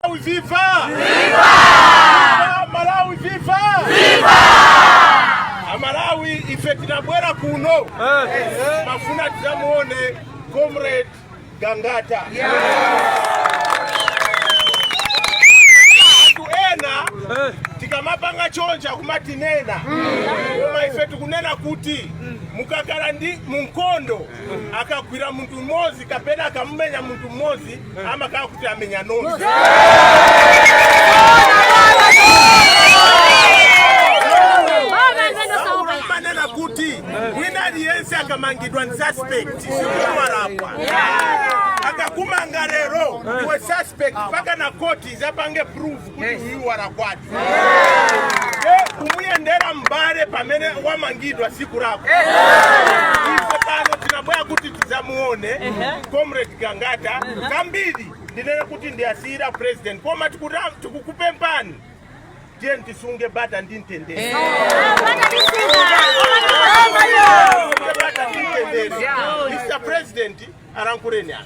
Malawi viva! Viva! Malawi viva! Viva! Amalawi, ife tinabwera kuno timafuna tidzamuone comrade Gangata anthu ena tikamapanga chonchi kumatinena koma ife tikunena kuti mukakhala ndi mu nkhondo akagwira munthu mmodzi kapena akamumenya munthu mmodzi amakhala kuti amenya nonse amanena kuti wina aliyense akamangidwa ndi suspect sikuti walakwa akakumanga lero iwe suspect mpaka a khoti adzapange prove kuti uyu walakwadi kumuyendera mbale pamene wamangidwa sikulakwa ife pano tinabwera kuti tidzamuone comrade gangata zambiri ndinene kuti ndiwasiyira president koma tikuta- tikukupemphani tiyeni tisunge bata ndi mtendere Mr. President, alankhuleni apa.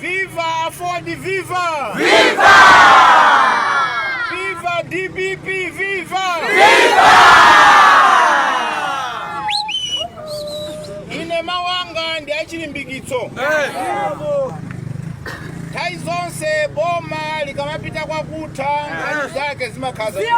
Viva Aford Viva! Viva! Viva DPP Viva! Viva! Ine mawu anga ndi achilimbikitso. Nthawi zonse boma likamapita kwa kutha nkhani zake zimakhala izi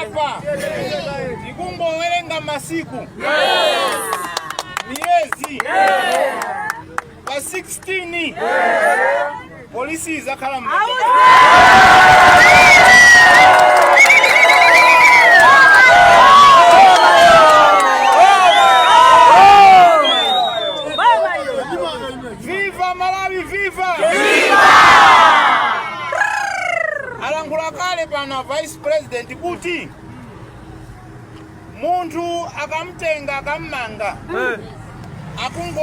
apa tikungowerenga masiku miyezi pa 16 polisi idzakhala viva malawi viva alankhula kale pano vice president kuti Munthu akamtenga akammanga akungo